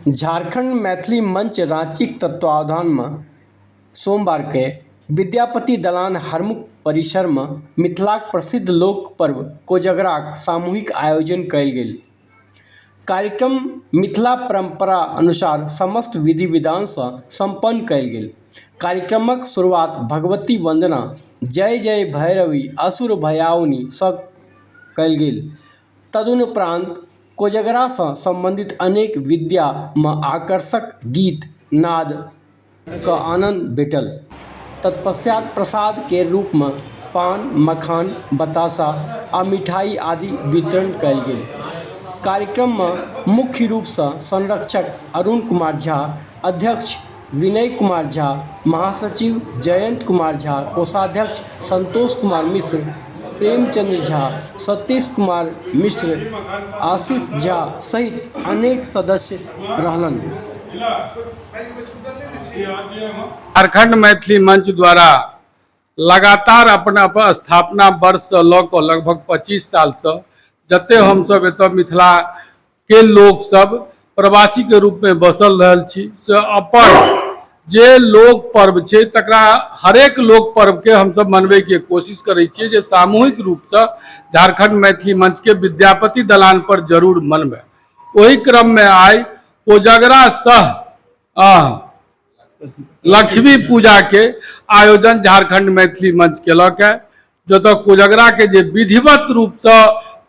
झारखण्ड मैथिली मंच राँचीक तत्वावधानमे सोमवारके विद्यापति दलान हरमुख परिसरमे मिथिलाक प्रसिद्ध लोक पर्व कोजगराक सामूहिक आयोजन कयल गेल। कार्यक्रम मिथिला परम्परा अनुसार समस्त विधि विधानसँ सम्पन्न कयल गेल। कार्यक्रमक शुरुआत भगवती वन्दना जय जय भैरवि असुर भयाउनि सँ कयल गेल। तदुपरान्त कोजगरासँ सम्बन्धित अनेक विद्यामे आकर्षक गीत नादके आनन्द भेटल। तत्पश्चात् प्रसाद केर रूपमे पान, मखान, बताशा आ मिठाइ आदि वितरण कएल गेल। कार्यक्रममे मुख्य रूपसँ संरक्षक अरुण कुमार झा, अध्यक्ष, विनय कुमार झा, महासचिव जयंत कुमार झा, कोषाध्यक्ष संतोष कुमार मिश्र, प्रेमचंद्र झा, सतीश कुमार मिश्र, आशीष झा सहित अनेक सदस्य रहलनि। झारखंड मैथिली मंच द्वारा लगातार अपन स्थापना वर्ष स ल क लगभग पच्चीस साल स जते हम सब एत मिथिला के लोक सब प्रवासी के रूप में बसल रहल छी से अपन जे लोक पर्व छै तकरा हरेक लोक पर्व के हम सब मनबे के कोशिश करे छियै जे सामूहिक रूप से झारखंड मैथिली मंच के विद्यापति दलान पर जरूर मनबे ओहि क्रम में आइ कोजगरा सह आ, लक्ष्मी पूजा के आयोजन झारखंड मैथिली मंच केलक है जतऽ कोजगरा के जे विधिवत रूप से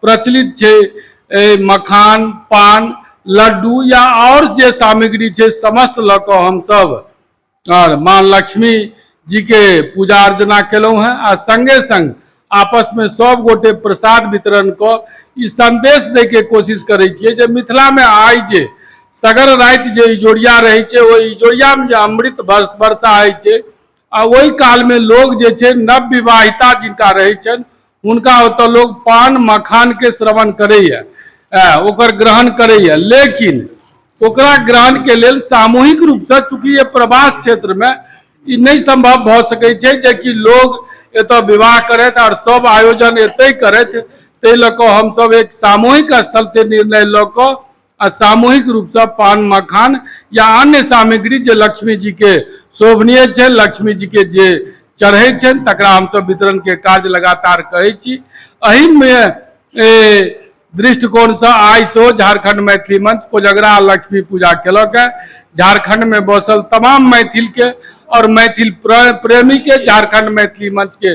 प्रचलित छै मखान पान लड्डू या और जे सामग्री छै समस्त लऽ कऽ हमसभ और माँ लक्ष्मी जी के पूजा अर्चना केलहुँ हैं आ संगे संग आपस में सब गोटे प्रसाद वितरण कऽ ई संदेश दै के कोशिश करै छियै जे मिथिला में आइ जे सगर राति जे इजोरिया रहै छै ओहि इजोरिया में जे अमृत वर्षा होइ छै आ ओहि कालमे लोग जे छै नव विवाहिता जिनका रहै छनि हुनका ओतऽ लोग पान मखानके श्रवण करैए ओकर ग्रहण करैए लेकिन ओकरा ग्रहणके लेल सामूहिक रूपसँ चूँकि ये प्रवास क्षेत्रमे ई नहि सम्भव भऽ सकै छै जेकि लोग एतऽ विवाह करथि आओर सब आयोजन एतहि करथि ताहि लऽ कऽ हमसब एक सामूहिक स्थलसँ निर्णय लऽ कऽ आ सामूहिक रूपसँ पान मखान या अन्य सामग्री जे लक्ष्मी जी के शोभनीय छै लक्ष्मी जी के जे चढ़ै छनि तकरा हमसभ वितरण के कार्य लगातार करै छी एहिमे दृष्टिकोणसँ आइ सेहो झारखंड मैथिली मंच कोजगरा लक्ष्मी पूजा केलक है झारखंड में बसल तमाम मैथिल के और मैथिल प्रेमी के झारखंड मैथिली मंच के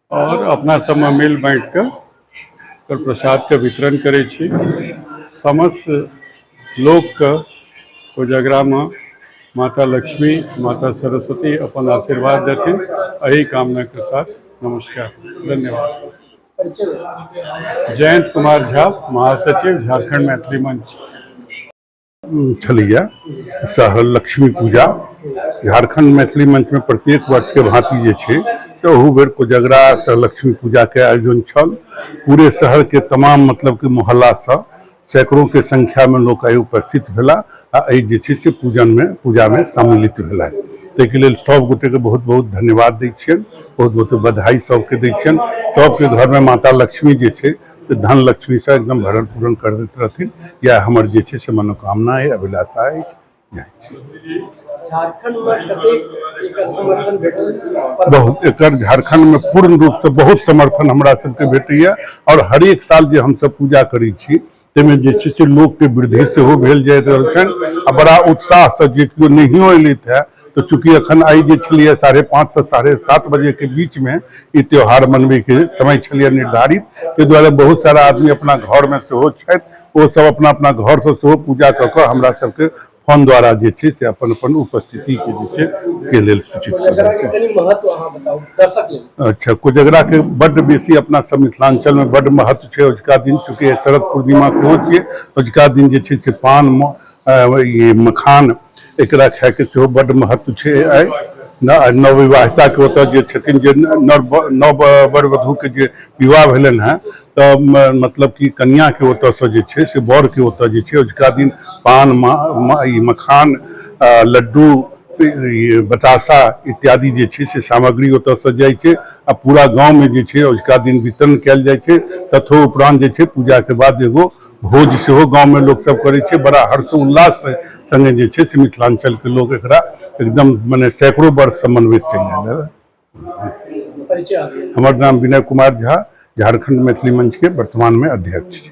आओर अपना सबमे मिल बाँटि कऽ ओकर प्रसादके वितरण करै छी समस्त लोकके कोजगरामे माता लक्ष्मी माता सरस्वती अपन आशीर्वाद देथिन एहि कामनाके साथ नमस्कार धन्यवाद जयंत कुमार झा महासचिव झारखंड मैथिली मंच छलैया सह लक्ष्मी पूजा झारखंड मैथिली मंच में प्रत्येक वर्ष के भांति जे छै से ओहू बेर कोजगरा सह लक्ष्मी पूजा के आयोजन छल पूरे शहर के तमाम मतलब के मोहल्ला से सैकड़ों के संख्या में लोग आइ उपस्थित भेला आ एहि जे छै से पूजन में पूजा में सम्मिलित भेला ताहिके लेल सब गोटे के बहुत बहुत धन्यवाद दै छियनि बहुत बहुत बधाई सबके दै छियनि सबके घर में माता लक्ष्मी जे छै तऽ धन लक्ष्मीसँ एकदम भरण पूरण कर दैत रहथिन इएह हमर जे छै से मनोकामना अइ अभिलाषा अछि बहुत एकर झारखंडमे पूर्ण रूपसँ बहुत समर्थन हमरा सबके भेटैए आओर हरेक साल जे हमसब पूजा करै छी ताहिमे जे छै से लोकके वृद्धि सेहो भेल जाइत रहल छनि आ बड़ा उत्साहसँ जे केओ नहियो अयलथि है तो चूंकि अखन आई जे छलिए साढ़े पाँच से साढ़े सात बजे के बीच में ई त्यौहार मनबे के समय छलिए निर्धारित ताहि दुआरे बहुत सारा आदमी अपना घर में सेहो छथि ओ सब अपना अपना घर से सेहो पूजा कऽ कऽ हमरा सबके फोन द्वारा जे छै से अपन अपन उपस्थिति के जे छै के लेल सूचित कऽ कोजगरा के देलकै। कनी महत्व अहाँ बताउ दर्शक लेल अच्छा कोजगरा के बड्ड बेसी अपना सब मिथिलांचल में बड्ड महत्व छै अजुका दिन चूंकि शरद पूर्णिमा सेहो छियै अजुका दिन जे छै से पान म- ई मखान एकरा खायके सेहो बड्ड महत्व छै आइ नवविवाहिताके ओतऽ जे छथिन जे नव नव वर वधूके जे विवाह भेलनि हेँ तऽ मतलब कि कनियाँके ओतऽसँ जे छै से बरके ओतऽ जे छै अजुका दिन पान ई मखान लड्डू ई बताशा इत्यादि जे छै से सामग्री ओतऽसँ जाइ छै आ पूरा गाममे जे छै अजुका दिन वितरण कयल जाइ छै ततहो उपरान्त जे छै पूजाके बाद एगो भोज सेहो गाँवमे लोकसभ करै छै बड़ा हर्षोल्लास सङ्गे जे छै से मिथिलाञ्चलके लोक एकरा एकदम मने सैकड़ो वर्षसँ मनबैत चलि आयल हँ। हमर नाम विनय कुमार झा झारखंड मैथिली मंचके वर्तमानमे अध्यक्ष छी